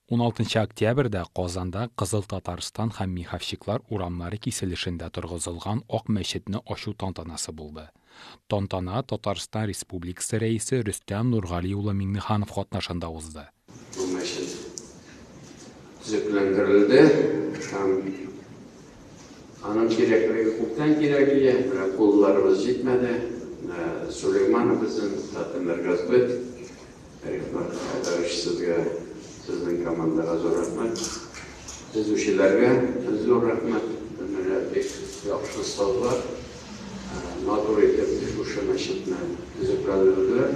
16 октябрьдә Казанда Кызыл Татарстан һәм Михавчиклар урамнары киселешендә торгызылган Ак мәчетне ачу тантанасы булды. Тантана Татарстан Республикасы Рәисе Рөстәм Нургали улы Миңнеханов катнашында узды. Бу мәчет төзекләндерелде һәм аның кирәклеге күптән кирәк иде, менә кулларыбыз җитмәде, менә Сулеймановбызын, Татнмергазбыт, Рихмәт Айдарыч сезгә, сезнең командага зур рәхмәт. Төзүчеләргә зур рәхмәт. Менә бик яхшы сазлар, матур итеп шушы мәчетне төзекләндерделәр.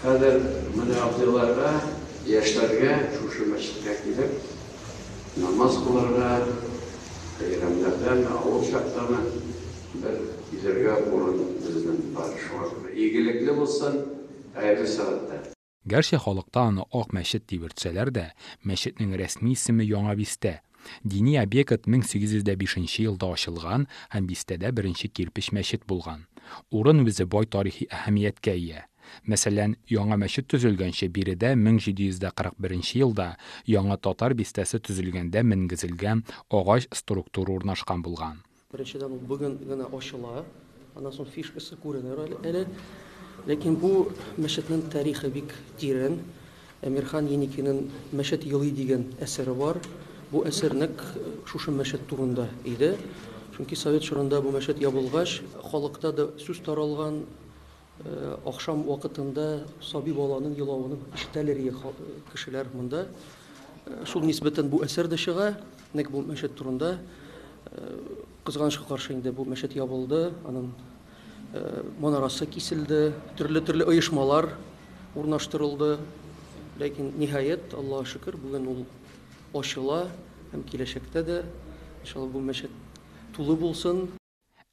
Хәзер менә абзыйларга, яшьләргә шушы мәчеткә килеп намаз кылырга, бәйрәмнәрдәме, авыл чактамы, Бер кизәргә урын безнең бар шуңа күрә. Игелекле булсын, хәерле сәгатьтә. Гәрчә халыкта аны Ак мәчет дип йөртсәләр дә, мәчетнең рәсми исеме Яңа бистә. Дини объект 1805 нче елда ачылган һәм бистәдә беренче кирпеч мәчет булган. Урын үзе бай тарихи әһәмияткә ия. Мәсәлән, яңа мәчет төзелгәнче биредә 1741 нче елда яңа татар бистәсе төзелгәндә менгезелгән агач структура урнашкан булган. Беренчедән, ул бүген генә ачыла. Аннан соң фишкасы күренер әле. Ләкин бу мәчетнең тарихы бик тирән. Әмирхан Еникинең Мәчет елый дигән әсәре бар. Бу әсәр нәкъ шушы мәчет турында иде. Чөнки совет чорында бу мәчет ябылгач, халыкта да сүз таралган, Ахшам вакытында саби баланың елавын ишетәлер иде кешеләр монда. Шул нисбәтән бу әсәр дә чыга, нәкъ бу мәчет турында. Кызганычка каршы инде бу мәчет ябылды, аның манарасы киселде, төрле-төрле оешмалар урнаштырылды. Ләкин ниһаять, Аллага шөкер, бүген ул ачыла һәм киләчәктә дә иншалла бу мәчет тулы булсын.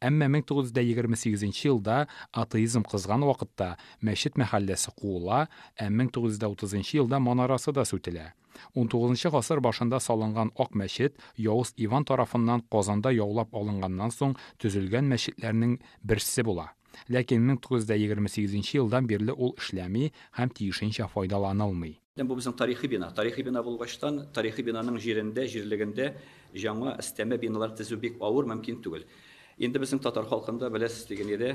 Әмма 1928 елда атеизм кызган вакытта мәчет мәхәлләсе куыла, ә 1930 елда манарасы да сүтелә. Унтугызынчы гасыр башында салынган Ак мәчет Явыз Иван тарафыннан Казанда яулап алынганнан соң төзелгән мәчетләрнең берсе була. Ләкин 1928 елдан бирле ул эшләми һәм тиешенчә файдаланылмый. Бу безнең тарихи бина. Тарихи бина булгачтан, тарихи бинаның җирендә, җирлегендә җаңа өстәмә биналар тезү бик авыр, мөмкин түгел. Инде безнең татар халкында, беләсез, дигән иде,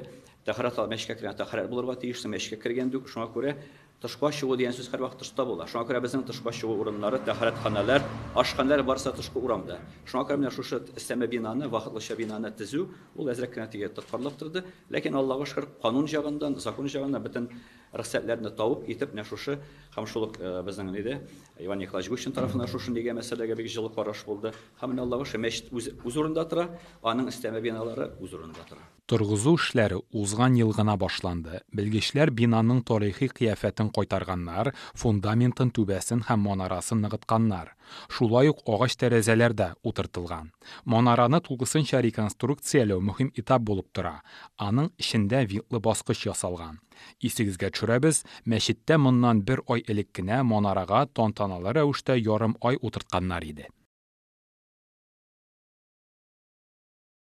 тәһарәт ал, мәчкә кергән тәһарәт булырга тиеш, син мәчкә кергән дюк, шуңа күрә тышка чыгу дигән сүз һәрвакыт тышта була. Шуңа күрә безнең тышка чыгу урыннары, тәһарәтханәләр, ашханәләр барысы да тышкы урамда. Шуңа күрә менә шушы өстәмә бинаны, вакытлыча бинаны тезү, ул әзрәк кенә тиге тоткарлап торды. Ләкин, Аллага шөкер, канун җагыннан, закон җагыннан бөтен Рөхсәтләрне табып, итеп менә шушы һәм шул ук безнең ниде, Иван Николаевич Гущин тарафыннан шушы нигә мәсьәләгә бик җылы караш булды. Һәм менә Аллага шө, мәчет үзе үз урында тора, аның өстәмә биналары үз урында тора. Торгызу эшләре узган ел гына башланды. Белгечләр бинаның тарихи кыяфәтен кайтарганнар, фундаментын, түбәсен һәм манарасын ныгытканнар. Шулай ук агач тәрәзәләр дә утыртылган. Манараны тулысынча реконструкцияләү мөһим этап булып тора. Аның эчендә винтлы баскыч ясалган. Исегезгә төшерәбез, мәчеттә моннан бер ай элек кенә манарага тантаналы рәвештә ярым ай утыртканнар иде.